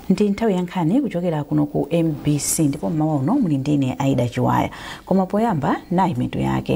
ndi nthawi ya nkhani kuchokera kuno ku mbc ndipo mmawa uno muli ndi ine aida chiwaya koma poyamba nayi mitu yake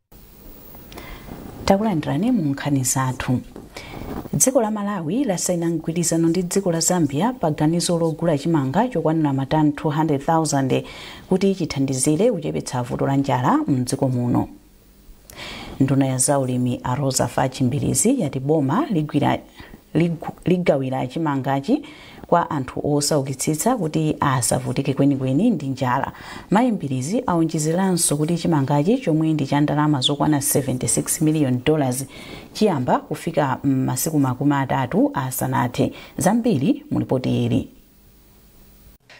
takulandirani mu nkhani zathu dziko la malawi lasaina mgwirizano ndi dziko la zambia pa ganizo logula chimanga chokwanira matani 200,000 kuti chithandizire kuchepetsa vuto la njala mdziko muno nduna ya zaulimi a roza fatch mbilizi yati boma ligawira chimangachi kwa anthu osaukitsitsa kuti asavutike kwenikweni ndi njala. Mayi Mbilizi aonjezeranso kuti chimangachi chomwe ndi cha ndalama zokwana 76 miliyoni dollars chiyamba kufika m'masiku makumi atatu asanathe. Zambiri mu lipoti ili.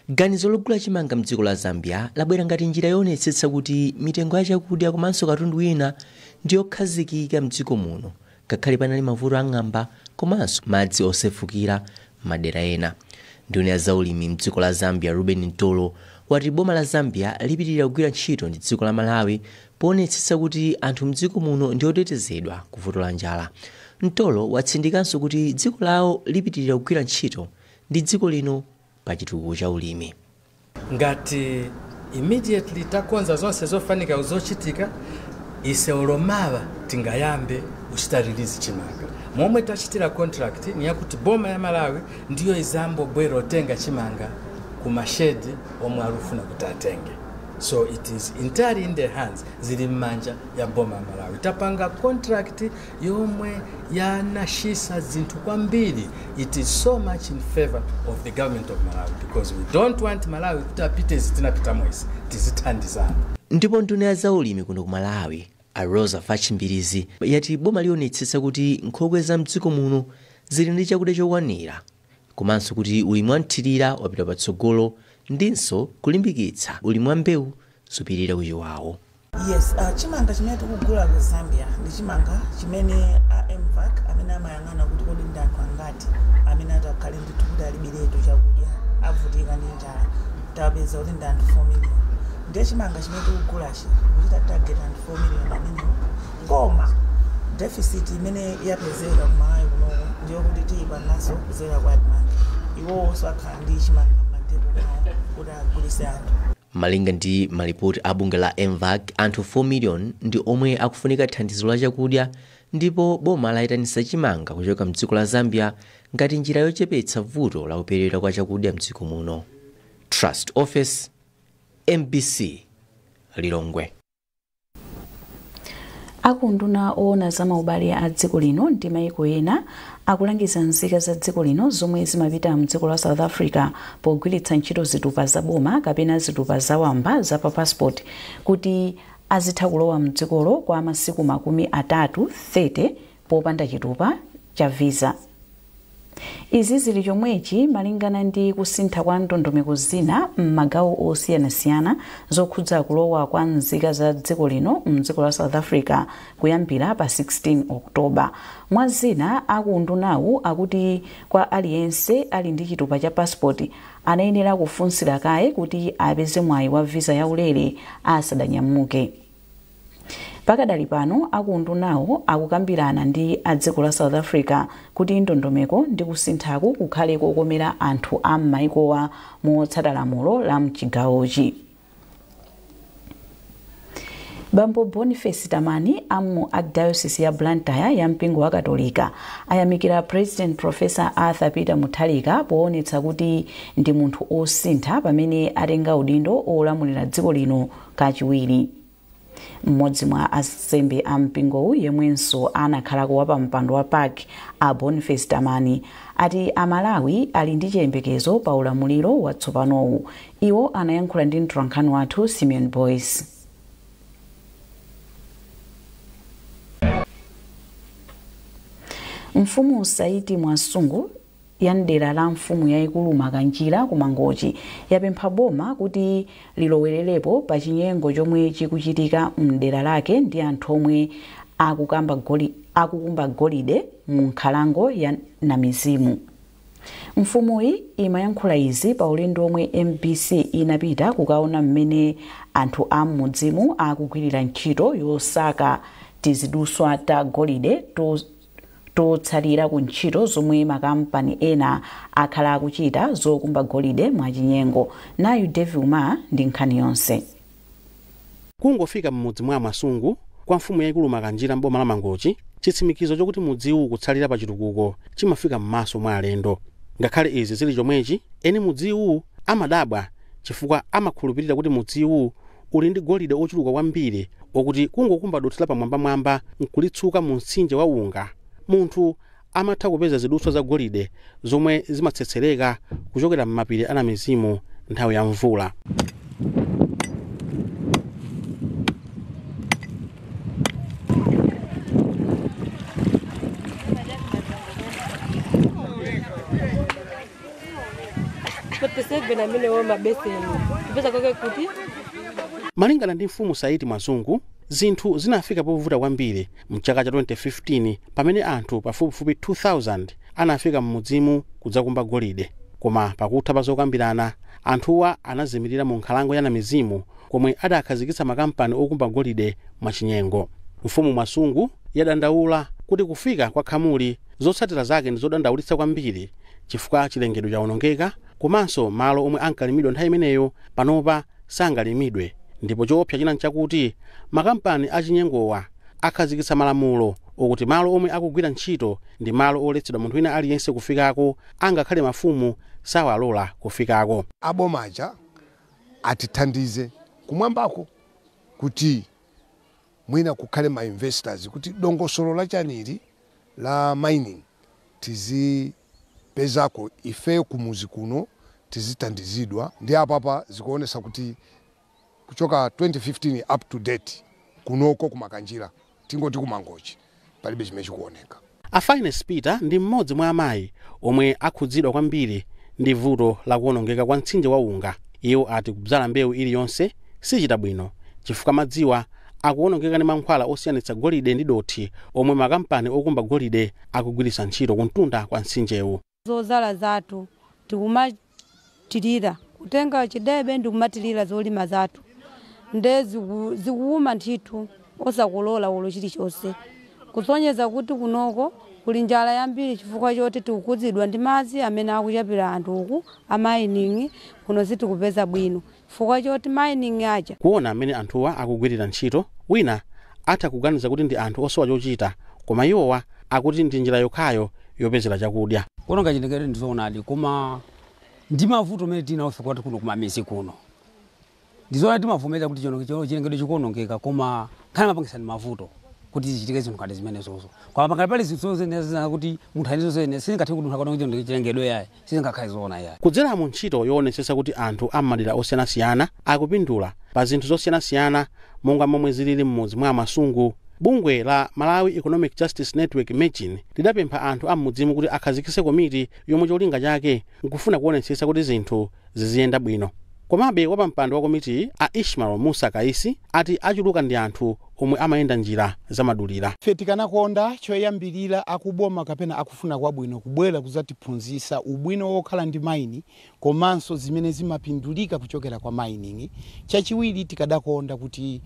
Ganizo logula chimanga mdziko la Zambia labwera ngati njira yoonetsetsa kuti mitengo ya chakudya komanso katundu wina ndi yokhazikika mdziko muno Ngakhale panali mavuto a ng'amba komanso madzi osefukira m'madera ena, nduna ya zaulimi m'dziko la Zambia Reuben Mtolo wati boma la Zambia lipitilira kugwira ntchito ndi dziko la Malawi poonetsetsa kuti anthu m'dziko muno ndi otetezedwa ku vuto la njala. Mtolo watsindikanso kuti dziko lawo lipitilira kugwira ntchito ndi dziko lino pa chitukuko cha ulimi. ngati immediately takonza zonse zofanika zochitika ise olo mawa tingayambe kuchita release chimanga momwe tachitira contract ni yakuti boma ya malawi ndiyo izambobwera otenga chimanga ku mashedi omwe alufuna kuti atenge so it is entirely in the hands zili mmanja ya boma ya malawi tapanga contract yomwe yanashisa zinthu kwambiri it is so much in favor of the government of malawi because we don't want malawi kuti apite izi tinapitamo izi tizithandizana ndipo nduna ya zaulimi kuno ku malawi a roza fatch mbilizi yati boma lionetsetsa kuti nkhokwe za mdziko muno zili ndi chakudya chokwanira komanso kuti ulimi wamthirira wapita patsogolo ndinso kulimbikitsa ulimi wa mbewu zopirira ku chiwawu Yes, uh, chimanga chimene tikugula ku Zambia ndi chimanga chimene a MVAC amene amayang'ana kuti kodi ndi anthu angati amene atakhale ndithu kuti alibiretu chakudya avutika ndi njala tapeza kuti ndi anthu 4 million ndiye chimanga chimene tikugulachi kuchita target anthu 4 million amenewo koma deficit imene yapezeka ku Malawi kunoko ndiyo kuti tiyipanganso kudzera kwa ADMARC iwowonso akhala ndi chimanga m'madepo mwawo kuti agulise anthu Malinga ndi malipoti a bungwe la MVAC, anthu 4 million ndi omwe akufunika thandizo la chakudya ndipo boma layitanisa chimanga kuchoka mdziko la Zambia ngati njira yochepetsa vuto la kuperewera kwa chakudya mdziko muno. Trust Ofesi, mbc, Lilongwe. a ku unduna woona za maubale a dziko lino ndi maiko ena akulangiza nzika za dziko lino zomwe zimapita mdziko la south africa pogwiritsa ntchito zitupa za boma kapena zitupa za wamba za pa passport kuti azitha kulowa mdzikolo kwa masiku makumi atatu 30 popanda chitupa cha visa. Izi zili chomwechi malingana ndi kusintha kwa ndondomeko zina m'magawo osiyanasiyana zokhudza kulowa kwa nzika za dziko lino m'dziko la South Africa kuyambira pa 16 October. Mwa zina, a ku undunawu akuti kwa aliyense ali ndi chitupa cha passport ayenera kufunsira kaye kuti apeze mwayi wa visa yaulere asadanyamuke. Pakadali pano aku undunawu akukambirana ndi a dziko la South Africa kuti ndondomeko ndi kusinthaku kukhale kokomera anthu a m'maikowa motsata lamulo la mchigawochi. Bambo Boniface Tamani a mu Archdiocese ya Blantyre ya mpingo wa Katolika ayamikira President Professor Arthur Peter Mutharika poonetsa kuti ndi munthu osintha pamene atenga udindo olamulira dziko lino kachiwiri. M'modzi mwa ansembe a mpingowu yemwenso anakhalako wa pampando wa pac a Boniface Tamani ati a Malawi ali ndi chiyembekezo pa ulamuliro watsopanowu. Iwo anayankhula ndi mtolankhani wathu Simeon Boyce. Mfumu Saiti Mwasungu ya m'dera la mfumu yaikulu Makanjira ku Mangochi yapempha boma kuti lilowelerepo pa chinyengo chomwe chikuchitika m'dera lake ndi anthu omwe akukumba golide mu nkhalango ya Namizimu. Mfumuyi imayankhula izi pa ulendo omwe MBC inapita kukaona mmene anthu a m'mudzimu akugwirira ntchito yosaka tiziduswa ta golide totsalira ku ntchito zomwe makampani ena akhala akuchita zokumba golide mwachinyengo. Nayu Davie Umar ndi nkhani yonse. Kungofika m'mudzi mwa a Mwasungu kwa mfumu yaikulu Makanjira m'boma la Mangochi, chitsimikizo chokuti mudziwu ukutsalira pa chitukuko chimafika m'maso mwa alendo. Ngakhale izi zili chomwechi, eni mudziwu amadabwa chifukwa amakhulupirira kuti mudziwu Uli ndi golide ochuluka kwambiri okuti kungokumba dothi lapamwambamwamba nkulitsuka mu mtsinje wa unga, munthu amatha kupeza zidutswa za golide zomwe zimatsetsereka kuchokera m'mapiri a namizimu nthawi ya mvula. malingana ndi mfumu saiti mwasungu zinthu zinafika povuta kwambiri mchaka cha 2015 pamene anthu pafupifupi 2000 anafika m'mudzimu kudzakumba golide koma pakutha pa zokambirana anthuwa anazimirira mu nkhalango ya namizimu komwe adakhazikitsa makampani okumba golide mwachinyengo mfumu mwasungu yadandaula kuti kufika kwa khamuli zotsatira zake ndi zodandaulitsa kwambiri Chifukwa chilengedwe chawonongeka komanso malo omwe ankalimidwa nthawi imeneyo panopa sangalimidwe ndipo choopsa china n'chakuti makampani achinyengowa akhazikitsa malamulo okuti malo omwe akugwira ntchito ndi malo oletsedwa munthu wina aliyense kufikako angakhale mafumu sawalola kufikako. aboma aja atithandize kumwambako kuti. mwina kukhale ma investors kuti dongosolo la chani ili la mining tizipezako ife kumuzi kuno tizithandizidwa ndiye apapa zikuonesa kuti kuchoka 2015 up to date kunoko ku Makanjira tingoti ku Mangochi palibe chimene chikuoneka. A Fyness Peter ndi m'modzi mwa amayi omwe akhudzidwa kwambiri ndi vuto la kuonongeka kwa mtsinje wa Unga. Iwo ati kubzala mbewu iliyonse sichita bwino chifukwa madziwa akuonongeka ndi mankhwala osiyanitsa golide ndi dothi omwe makampani okumba golide akugwiritsa ntchito kumtunda kwa mtsinjewu. zodzala zathu tikumathilira kutenga chidebe ndikumathilira zolima zathu nde zikuwuma ndithu osakolola olo chilichonse kusonyeza kuti kunoko kuli njala yambiri chifukwa choti tikukhudzidwa ndi madzi amene akuchapira anthu uku a mining kuno sitikupeza bwino. fukwa choti mining aja. Kuona mmene anthuwa akugwirira ntchito, wina atha kuganiza kuti ndi anthu osowa chochita koma iwowa akuti ndi njira yokhayo yopezera chakudya. Kuononga chilengedwe ndi zoonadi koma ndi mavuto amene tili nawofe kwathu kuno kumamizi kuno. Ndi zoonadi timavomereza kuti chilengedwe chikuonongeka koma nkhani amapangitsa ndi mavuto kuti zichitike zinthu ngati zimenezozo. Koma pakali pali zinthu zoyenera kuti munthu ayenera zoyenera sizingatheke kuti munthu akaononge chilengedwe ayi. sizingakhale zoona iyayi. Kudzera mu ntchito yoonetsetsa kuti anthu a m'madera osiyanasiyana akupindula pa zinthu zosiyanasiyana monga momwe zilili m'mudzi mwa a Mwasungu, bungwe la Malawi Economic Justice Network, Mejn, lidapempha anthu a m'mudzimu kuti akhazikitse komiti yomwe cholinga chake nkufuna kuonetsetsa kuti zinthu ziziyenda bwino. Komabe, wapampando wa komitiyi, a Ishmael Mussa Kaisi, ati achuluka ndi anthu omwe amayenda njira zamadulira. Ife tikanakonda choyambirira akuboma kapena akufuna kwabwino kubwera kuzatiphunzisa ubwino wokhala ndi maini komanso zimene zimapindulika kuchokera kwa maini, chachiwiri tikadakonda kuti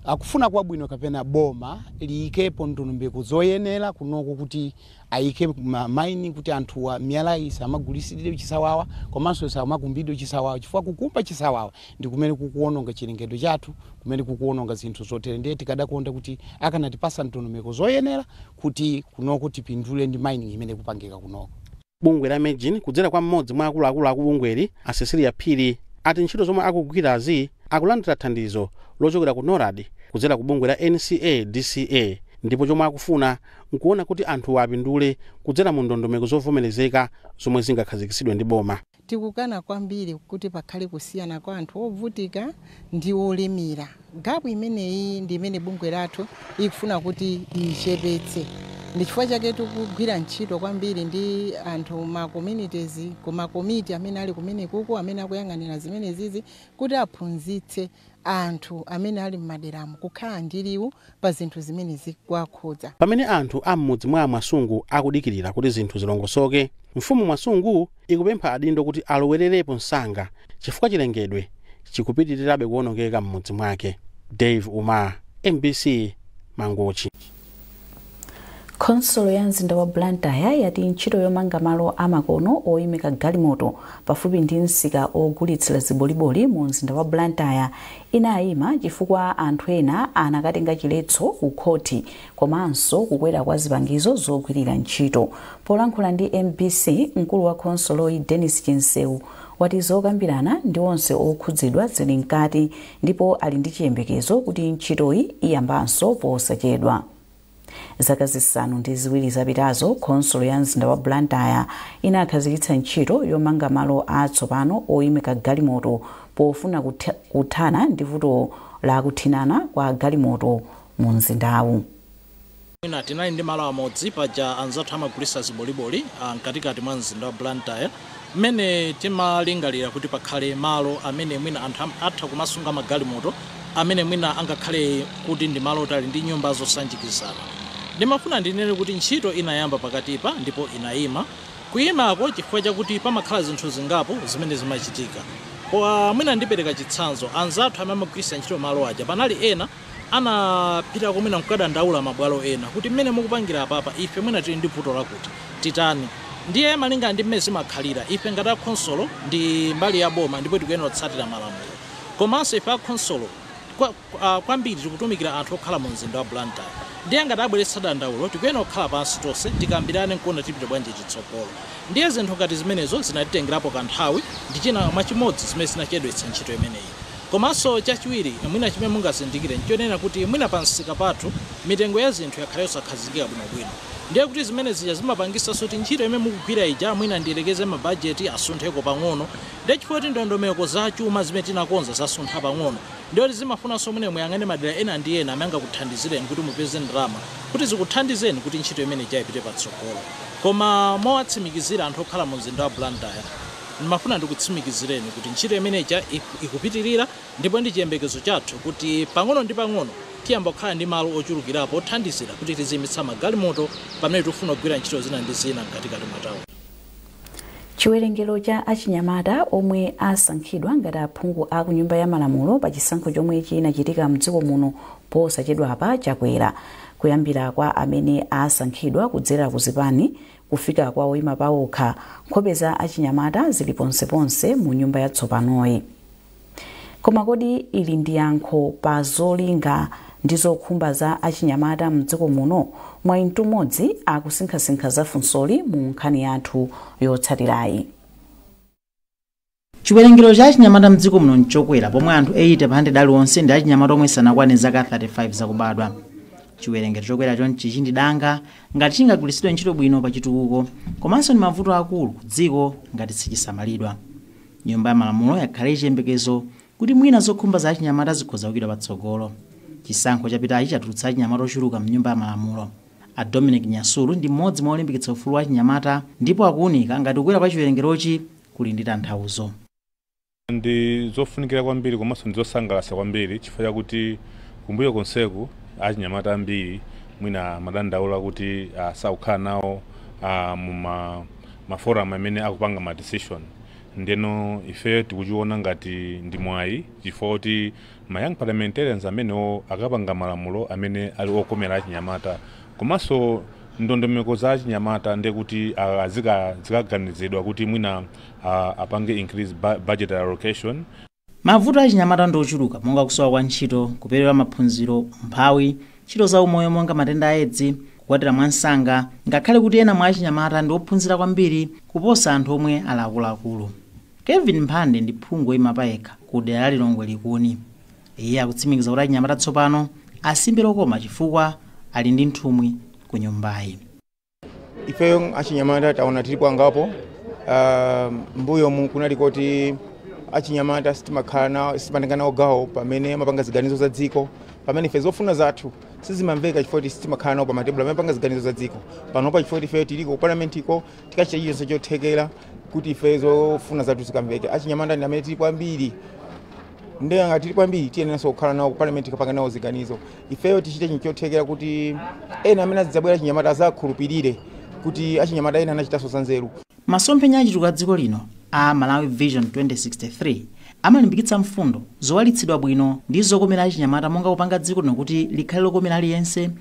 akufuna kwabwino kapena boma liyikepo ndondomeko zoyenera kunoko kuti ayike ma mining kuti anthuwa miyalayi isamagulisidwe chisawawa komanso isamakumbidwe chisawawa chifukwa kukumba chisawawa ndi kumene kukuwononga chilengedwe chathu, kumene kukuwononga zinthu zotere ndiye tikadakonda kuti akanatipatsa ndondomeko zoyenera kuti kunoko tipindule ndi mining imene ikupangika kunoko. Bungwe la Mejn kudzera kwa m'modzi mwa akuluakulu akubungweli a Cecilia Phiri ati ntchito zomwe akugwirazi akulandira thandizo lochokera ku Norad kudzera ku bungwe la NCA DCA ndipo chomwe akufuna nkuwona kuti anthuwa apindule kudzera mu ndondomeko zovomerezeka zomwe zingakhazikitsidwe ndi boma. Tikukana kwambiri kuti pakhale kusiyana kwa anthu ovutika ndi olemera. Gapu imeneyi ndi imene bungwe lathu ikufuna kuti ichepetse. Ndi chifukwa chake tikugwira ntchito kwambiri ndi anthu ma communities, ku ma komiti amene ali kumenekuku amene akuyang'anira zimenezizi kuti aphunzitse anthu amene ali m'maderamo kukhala ndi liwu pa zinthu zimene zikuwakhudza. Pamene anthu a m'mudzi mwa a Mwasungu akudikirira kuti zinthu zilongosoke, mfumu Mwasungu ikupempha adindo kuti alowererepo msanga chifukwa chilengedwe chikupitirirabe kuonongeka m'mudzi mwake. Dave Umar, mbc, Mangochi. Khonsolo ya mzinda wa Blantyre yati ntchito yomanga malo amakono oimika galimoto pafupi ndi msika ogulitsira ziboliboli mu mzinda wa Blantyre inaima chifukwa anthu ena anakatenga chiletso ku khoti komanso kukwera kwa zipangizo zogwirira ntchito. Polankhula ndi mbc, mkulu wa khonsoloyi Dennis Chinseu wati zokambirana ndi onse okhudzidwa zili mkati ndipo ali ndi chiyembekezo kuti ntchitoyi iyambanso posachedwa. Zaka zisanu ndi ziwiri zapitazo, khonsolo ya mzinda wa Blantyre inakhazikitsa ntchito yomanga malo atsopano oimika galimoto pofuna kuthana ndi vuto la kuthinana kwa galimoto mu mzindawu. Mwina tinali ndi malo amodzi paja anzathu amagulitsa ziboliboli a mkatikati mwa mzinda wa Blantyre mmene timalingalira kuti pakhale malo amene mwina anthu am, atha kumasunga magalimoto amene mwina angakhale kuti ndi malo oti ali ndi nyumba zosanjikizana. Ndimafuna ndinene kuti ntchito inayamba pakatipa ndipo inayima. Kuyimako chifukwa chakuti pamakhala zinthu zingapo zimene zimachitika. Kwa, mwina ndipereka chitsanzo, anzathu amene amagwiritsa ntchito malo aja panali ena. anapitako mwina nkukadandaula mabwalo ena kuti mmene mukupangira apapa ife mwina tili ndi vuto lakuti, titani. Ndiye malinga ndi mmene zimakhalira, ife ngati a khonsolo ndi mbali ya boma ndipo tikuyenera kutsatira malamulo. Komanso ife a khonsolo kwa, a, kwambiri tikutumikira anthu okhala mu mzinda wa Blantyre. Ndiye ngati abweretsa dandaulo tikuyenera kukhala pansi tonse tikambirane nkuona tipite bwanji chitsogolo. Ndiye zinthu ngati zimenezo zinatitengerapo kanthawi, ndi china mwa chimodzi zimene zinachedwetsa ntchito imeneyi. Komanso chachiwiri mwina chimene mungazindikire n'chonena kuti mwina pamsika pathu mitengo ya zinthu yakhala yosakhazikika bwinobwino. Ndiye kuti zimene zija zimapangitsa kuti ntchito imene mukugwira ija mwina ndiyerekeze mabajeti asuntheko pang'ono. Ndiye chifukwa choti ndondomeko za chuma zimene tinakonza zasuntha pang'ono, ndiye kuti zimafunanso mwina muyang'ane madera ena ndi ena amene angakuthandizireni kuti mupeze ndalama kuti zikuthandizeni kuti ntchito imene ija ipite patsogolo. Koma mowatsimikizira anthu okhala mumzinda wa Blantyre, Ndimafuna ndikutsimikizireni kuti ntchito imene ija ikupitirira ndipo ndi chiyembekezo chathu kuti pang'ono ndi pang'ono tiyamba kukhala ndi malo ochulukirapo othandizira kuti tiziimitsa magalimoto pamene tikufuna kugwira ntchito zina ndi zina mkatikati mwa tauni. Chiwerengero cha achinyamata omwe asankhidwa ngati aphungu a kunyumba ya malamulo pa chisankho chomwe chinachitika mdziko muno posachedwapa chakwera. Kuyambira kwa amene asankhidwa kudzera ku zipani, Kufika kwa oima paokha, nkhope za achinyamata zili ponseponse mu nyumba yatsopanoyi. Koma kodi ili ndi yankho pa zolinga ndi zokhumba za achinyamata m'dziko muno? Mwayi Mtumodzi akusinkhasinkha za funsoli mu nkhani yathu yotsatirayi. Chiwerengero cha achinyamata mdziko muno nchokwera pomwe anthu 80 pa 100 aliwonse ndi achinyamata omwe sanakwane zaka 35 zakubadwa. Chiwerengero chokwera chonchichi ndi danga ngati chingagwiritsidwe ntchito bwino pa chitukuko komanso ndi mavuto akulu ku dziko ngati sichisamalidwa. Nyumba ya Malamulo yakhala ili chiyembekezo kuti mwina zokhumba za achinyamata zikhoza kuikidwa patsogolo. Chisankho chapitachi chatulutsa achinyamata ochuluka mnyumba ya Malamulo. A Dominic Nyasulu ndi mmodzi mwa olimbikitsa ufulu wa achinyamata ndipo akuunika ngati kukwera kwa chiwerengerochi kuli ndi tanthauzo. Ndi zofunikira kwambiri komanso ndi zosangalatsa kwambiri chifukwa chakuti kumbuyo konseku achinyamata ambiri mwina amadandaula kuti ah, sakukhala nawo ah, mu ma maforum amene akupanga ma decision ndeno ife tikuchiona ngati ndi mwayi chifukwa kuti Ma young parliamentarians amenewo akapanga malamulo amene ali okomera achinyamata komanso ndondomeko za achinyamata ndi kuti zikaganizidwa kuti mwina apange increase budgetary allocation. Mavuto a achinyamata ndi ochuluka monga kusowa kwa ntchito, kuperewera maphunziro, umphawi, ntchito za umoyo monga matenda a Edzi, kukwatira mwamsanga, ngakhale kuti ena mwa achinyamata ndi ophunzira kwambiri kuposa anthu omwe ali akuluakulu. Kevin Mphande ndi phungu oyima payekha ku dera la Lilongwe Likuni. Iye akutsimikiza kuti achinyamata tsopano asimbe lokoma chifukwa ali ndi nthumwi ku nyumbayi. Ifeyo achinyamata taona tilipo angapo. Uh, mbuyomu kunali koti achinyamata sitimatenga nawo gawo pamene amapanga ziganizo za dziko pamene ife zofuna zathu sizimamveka chifukwa sitimakhala nawo pa matebulo amene amapanga ziganizo za dziko panopa chifukwa ifeyo tiliko ku palamentiko tikachita chilichonse chothekera kuti ife zofuna zathu zikamveke achinyamata ndi amene tili kwambiri nde ngati tili kwambiri tiyeneranso kukhala nawo ku parliament kapanga nawo ziganizo ifeyo tichite chinthu chothekera kuti ena amene azidzabwera achinyamata azakhulupirire kuti achinyamata ena anachitanso zanzeru masomphenya achitukuko cha dziko lino a malawi vision 2063 amalimbikitsa mfundo zowalitsidwa bwino ndi zokomera achinyamata monga kupanga dziko lino kuti likhale lokomera aliyense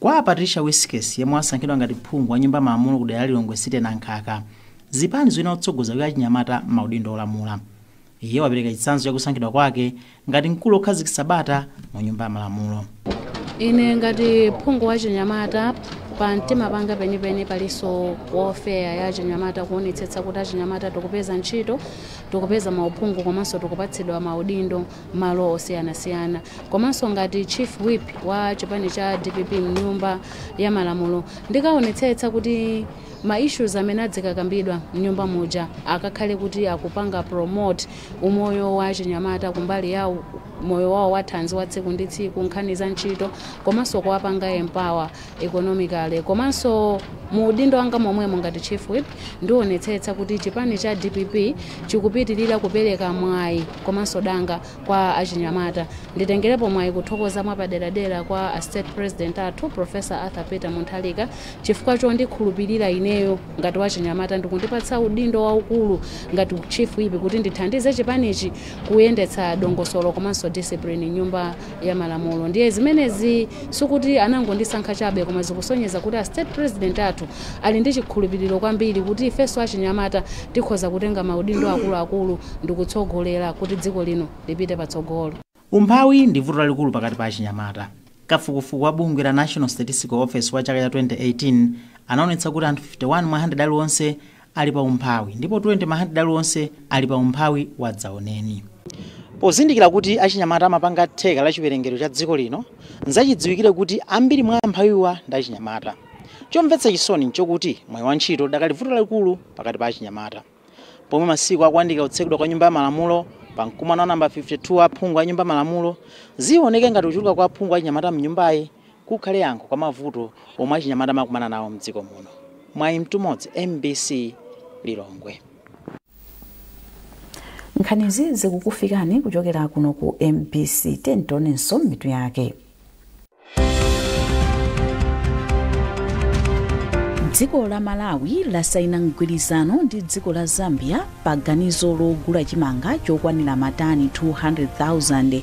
Kwa a Patricia Wiskes yemwe wasankhidwa ngati phungu wa nyumba ya malamulo kudera la Lilongwe City Nankhaka, zipani zikuyenera kutsogoza kuika achinyamata m'maudindo olamula. Iye wapereka chitsanzo cha kusankhidwa kwake ngati mkulu wokhazikitsa bata mu nyumba ya malamulo. Ine ngati phungu wa chinyamata, pa mtima panga penipeni palinso welfare ya achinyamata, kuonetsetsa kuti achinyamata tikupeza ntchito, tikupeza mauphungu komanso tikupatsidwa maudindo. malo osiyanasiyana komanso ngati chief whip wa chipani cha dpp mnyumba ya malamulo ndikaonetsetsa kuti ma issues amene adzikakambidwa mnyumba muja akakhale kuti akupanga promote umoyo wa chinyamata kumbali ya u- moyo wawo wathanzi wa tsiku ndi tsiku nkhani za ntchito komanso kuwapanga empower economically komanso mu udindo wanga momwemo ngati Chief Whip ndiwonetsetsa kuti chipani cha dpp chikupitilira kupereka mwayi komanso danga kwa achinyamata. Nditengerepo mwayi kuthokoza mwapaderadera kwa a State President athu Prof. Arthur Peter Mutharika chifukwa chondikhulupilira ineyo ngati wachinyamata ndikundipatsa udindo waukulu ngati Chief Whip kuti ndithandize chipanichi kuyendetsa dongosolo komanso discipline mnyumba ya malamulo ndiye zimenezi sikuti anangondisankha chabe koma zikusonyeza kuti a state president athu ali ndi chikhulupiriro kwambiri kuti ifenso achinyamata tikhoza kutenga maudindo akuluakulu ndikutsogolera kuti dziko lino lipite patsogolo Umphawi ndi vuto lalikulu pakati pa achinyamata. Kafukufuku wa bungwe la National Statistical Office wa chaka cha 2018 anaonetsa kuti anthu 51 mwa 100 aliwonse ali pa umphawi ndipo 20 mwa handiredi alionse ali pa umphawi wadzaoneni. Pozindikira kuti achinyamata amapanga theka la chiwerengero cha dziko lino, nzachidziwikire kuti ambiri mwa amphawiwa ndi achinyamata. Chomvetsa chisoni nchokuti mwayi wa ntchito udakali vuto lalikulu pakati pa achinyamata. Pomwe masiku akuyandika kutsekedwa kwa Nyumba ya Malamulo, pa mkumano wa number 52 wa aphungu a Nyumba Malamulo, zioneka ngati kuchuluka kwa aphungu achinyamata m'nyumbayi kukhale yankho kwa mavuto omwe achinyamata amakumana nawo mdziko muno. Mwayi Mtumodzi, mbc, Lilongwe. Nkhanizi zikukufikani kuchokera kuno ku mbc. Tiyeni tionenso mitu yake. dziko la malawi lasaina mgwirizano ndi dziko la zambia pa ganizo logula chimanga chokwanira matani 200,000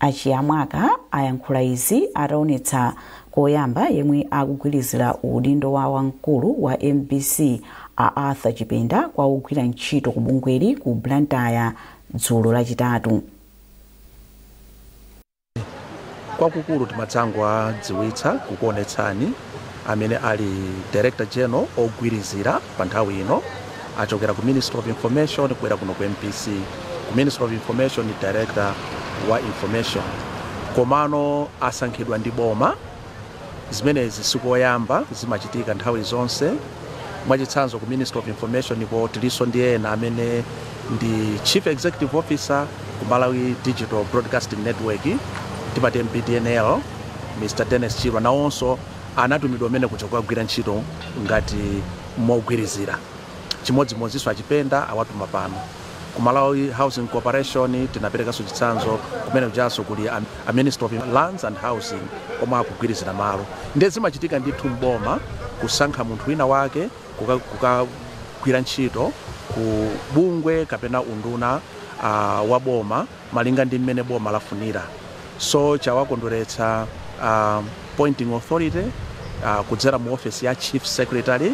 A Chiyamwaka ayankhula izi ataonetsa koyamba yemwe akugwirizira udindo wa wamkulu wa mbc a arthur chipenda kwa ogwira ntchito ku bungweli ku blantyre dzulo lachitatu kwakukulu timadzangowadziwitsa kukuonetsani amene ali director general ogwirizira pa nthawi ino achokera ku ministry of information kubwera kuno ku mbc ku ministry of information ni director wa information komano asankhidwa ndi boma Zimenezi si koyamba, zimachitika nthawi zonse. Mwachitsanzo, ku Ministry of Information ko tilinso ndi ena amene ndi Chief Executive Officer ku Malawi Digital Broadcasting Network, timati MBDNL, Mr. Dennis Chirwa, nawonso anatumidwa kumene kuja kukagwira ntchito ngati mogwirizira. Chimodzimodzinso a Chipenda awatuma pano. Ku Malawi Housing Corporation tinaperekanso chitsanzo kumene kujanso kuli a Ministry of Lands and Housing omwe akugwirizira malo ndiye zimachitika ndithu m'boma kusankha munthu wina wake kukagwira ntchito ku bungwe kapena unduna wa boma. malinga ndi mmene boma lafunira so chawakondweretsa appointing authority kudzera mu ofesi ya chief secretary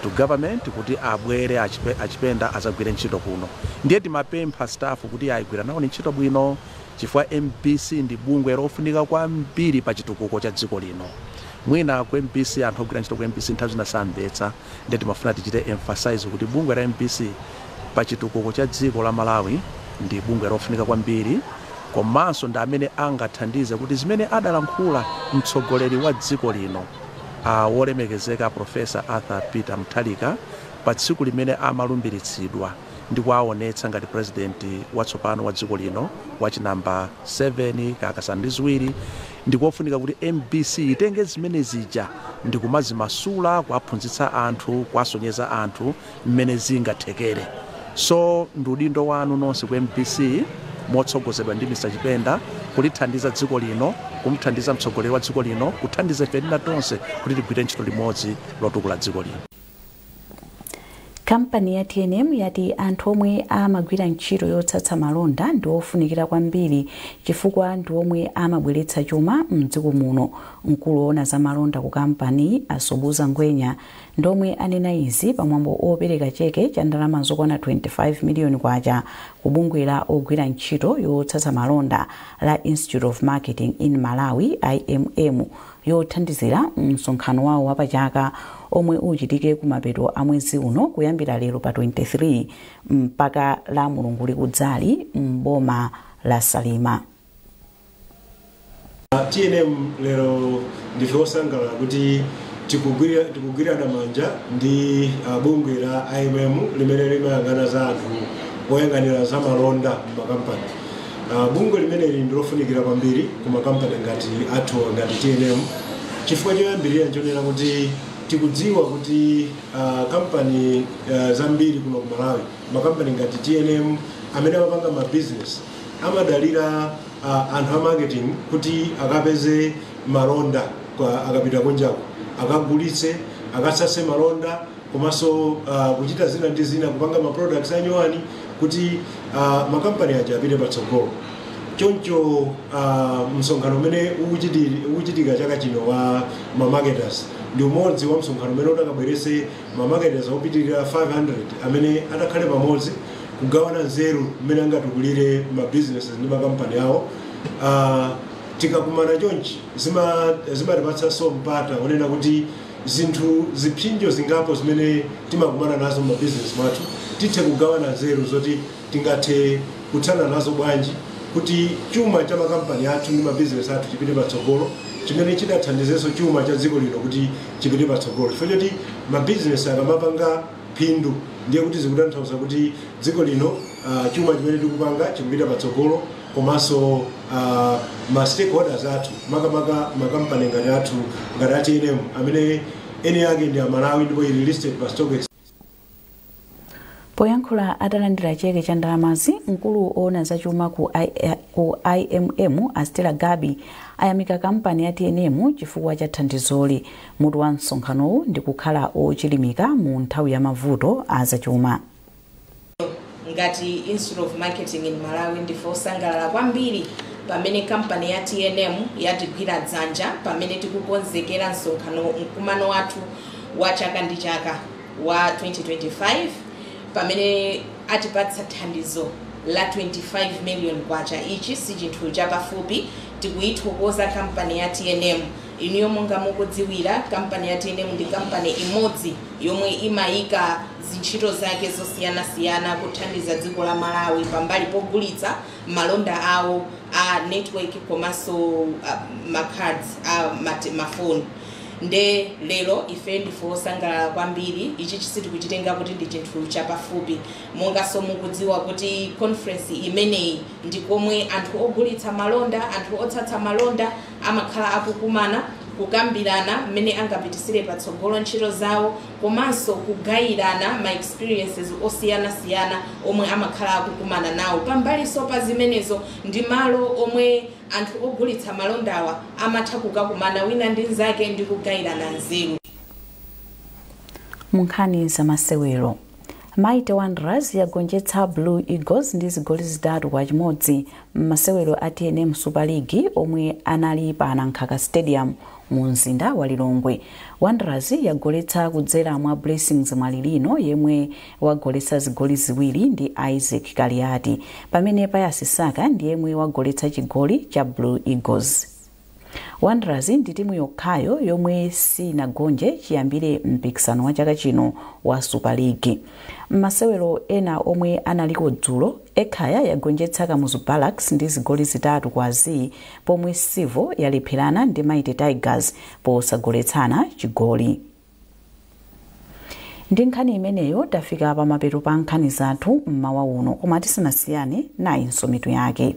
to government kuti abwere a chipenda azagwire ntchito kuno ndiye timapempha staff kuti agwire nawo ntchito bwino chifukwa mbc ndi bungwe lofunika kwambiri pa chitukuko cha dziko lino mwina ku mbc anthu ogwira ntchito ku mbc nthawi zina samvetsa ndiye timafuna tichite emphasize kuti bungwe la mbc pa chitukuko cha dziko la Malawi ndi bungwe lofunika kwambiri komanso ndi amene angathandize kuti zimene adalankhula mtsogoleri wa dziko lino wolemekezeka Prof. Arthur Peter Mutharika pa tsiku limene amalumbiritsidwa ndikuwaonetsa ngati president watsopano wa dziko lino wachi number 7 kakasanu ndi ziwiri ndikofunika kuti mbc itenge zimene zija ndikumazimasula kuwaphunzitsa anthu kuwasonyeza anthu mmene zingathekere so ndi udindo wanu nonse ku mbc motsogozedwa ndi Mr Chipenda kulithandiza dziko lino kumthandiza mtsogoleri wa dziko lino kuthandiza ife ena tonse kuti tigwire ntchito limodzi lotukula dziko lino. Kampani ya tnm yati anthu omwe amagwira ntchito yotsatsa malonda ndi ofunikira kwambiri chifukwa ndi omwe amabweretsa chuma m'dziko muno. Mkulu oona za malonda ku kampaniyi, a Sobhuza Ngwenya, ndi omwe anena izi pa mwambo opereka cheke cha ndalama zokwana K25 miliyoni ku bungwe la ogwira ntchito yotsatsa malonda la Institute of Marketing in Malawi, IMM, yothandizira msonkhano wawo wapachaka omwe uchitike kumapeto a mwezi uno kuyambira lero pa 23 mpaka la mulungu likudzali m'boma la salima tnm lero ndife osangalala kuti tikugwira- tikugwirana manja ndi ah, bungwe la imm limene limayang'ana za anthu oyang'anira za malonda m'makampani Uh, bungwe limeneli ndilofunikira kwambiri ku makampani ngati athuwa ngati tnm chifukwa choyambirira nchonena kuti tikudziwa kuti uh, kampani uh, zambiri kuno ku malawi makampani ngati tnm amene amapanga ma business amadalira uh, anthu a marketing kuti akapeze malonda akapita kunjako akagulitse akatsatse malonda komanso uh, kuchita zina ndi zina kupanga ma products a nyowani kuti uh, makampani aja apite patsogolo choncho uh, msonkhano umene ukuchiti- ukuchitika chaka chino wa mamarketers ndi umodzi wa msonkhano umene utakabweretse mamarketers opitirira 500 amene atakhale pamodzi kugawana nzeru mmene angatukulire ma businesses ndi makampani awo uh, tikakumana chonchi zima- zimatipatsanso mpata onena kuti zinthu, zipsinjo zingapo zimene timakumana nazo m'mabizinesi mwathu, tithe kugawana nzeru zoti tingathe kuthana nazo bwanji kuti chuma cha makampani athu ndi mabizinesi athu chipite patsogolo, chimene chitathandizenso chuma cha dziko lino kuti chipite patsogolo. Chifukwa choti mabizinesi akamapanga phindu ndiye kuti zikutanthauza kuti dziko lino, chuma chimene tikupanga chikupita patsogolo. komanso ma stakeholders athu makamaka makampani ngati athu ngati a tnm amene eni ake ndi amalawi ndipo ili listed pa stock exchange poyankhula atalandira cheke cha ndalamazi mkulu oona zachuma ku, I, ku imm a Stella Gabi ayamika kampani ya tnm chifukwa cha thandizoli mutu wa msonkhanowu ndi kukhala ochilimika mu nthawi ya mavuto a zachuma Ngati Institute of Marketing in Malawi, ndife osangalala kwambiri pamene kampani ya tnm yatigwira dzanja pamene tikukonzekera msonkhano, mkumano wathu wa chaka ndi chaka wa 2025 pamene atipatsa thandizo la 25 million kwacha. Ichi sichinthu chapafupi, tikuyithokoza kampani ya tnm. Iniyo monga mukudziwira, kampani ya tnm ndi kampani imodzi yomwe imayika zintchito zake zosiyanasiyana kuthandiza dziko la Malawi pambali pogulitsa malonda awo a network komanso ma cards a ma phone nde lero ife ndife osangalala kwambiri ichichi sitikuchitenga kuti ndi chinthu chapafupi monganso mukudziwa kuti conference imeneyi ndi komwe anthu ogulitsa malonda anthu otsatsa malonda Amakhala akukumana, kukambirana mmene angapitisire patsogolo ntchito zawo komanso kugayirana ma experiences osiyanasiyana omwe amakhala akukumana nawo. Pambalinso pa zimenezo ndi malo omwe anthu ogulitsa malondawa amatha kukakumana wina ndi nzake ndi kugayirana nzeru. Munkhani zamasewero, Mighty Wanderers yagonjetsa Blue Eagles ndi zigoli zitatu kwa chimodzi m'masewero a tnm Super League omwe anali pa Nankhaka Stadium mu mzinda wa Lilongwe. Wanderers yagoletsa kudzera mwa Blessings Mwalilino yemwe wagoletsa zigoli ziwiri ndi Isaac Kaliati, pamene Pius Saka ndi yemwe wagoletsa chigoli cha Blue Eagles. Wanderers ndi timu yokhayo yomwe sinagonje chiyambire mpikisano wa chaka chino wa Super League. M'masewero ena omwe analiko dzulo, Ekhaya yagonjetsa Kamuzu Barracks ndi zigoli zitatu kwa zii pomwe Civo yalepherana ndi Mighty Tigers posagoletsana chigoli. Ndi nkhani imeneyo tafika pamapeto pa nkhani zathu mmawa uno koma tisanasiyane nayinso mitu yake.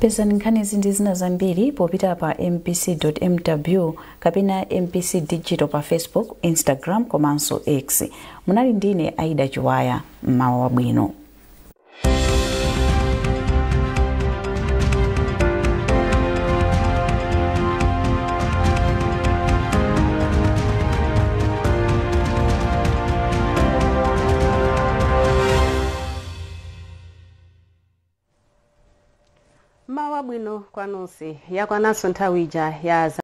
pezani nkhanizi ndi zina zambiri popita pa mbc.mw kapena mbc digital pa facebook instagram komanso x munali ndine aida chiwaya mmawa wabwino mmawa wabwino kwa nonse yakwananso nthawi ija ya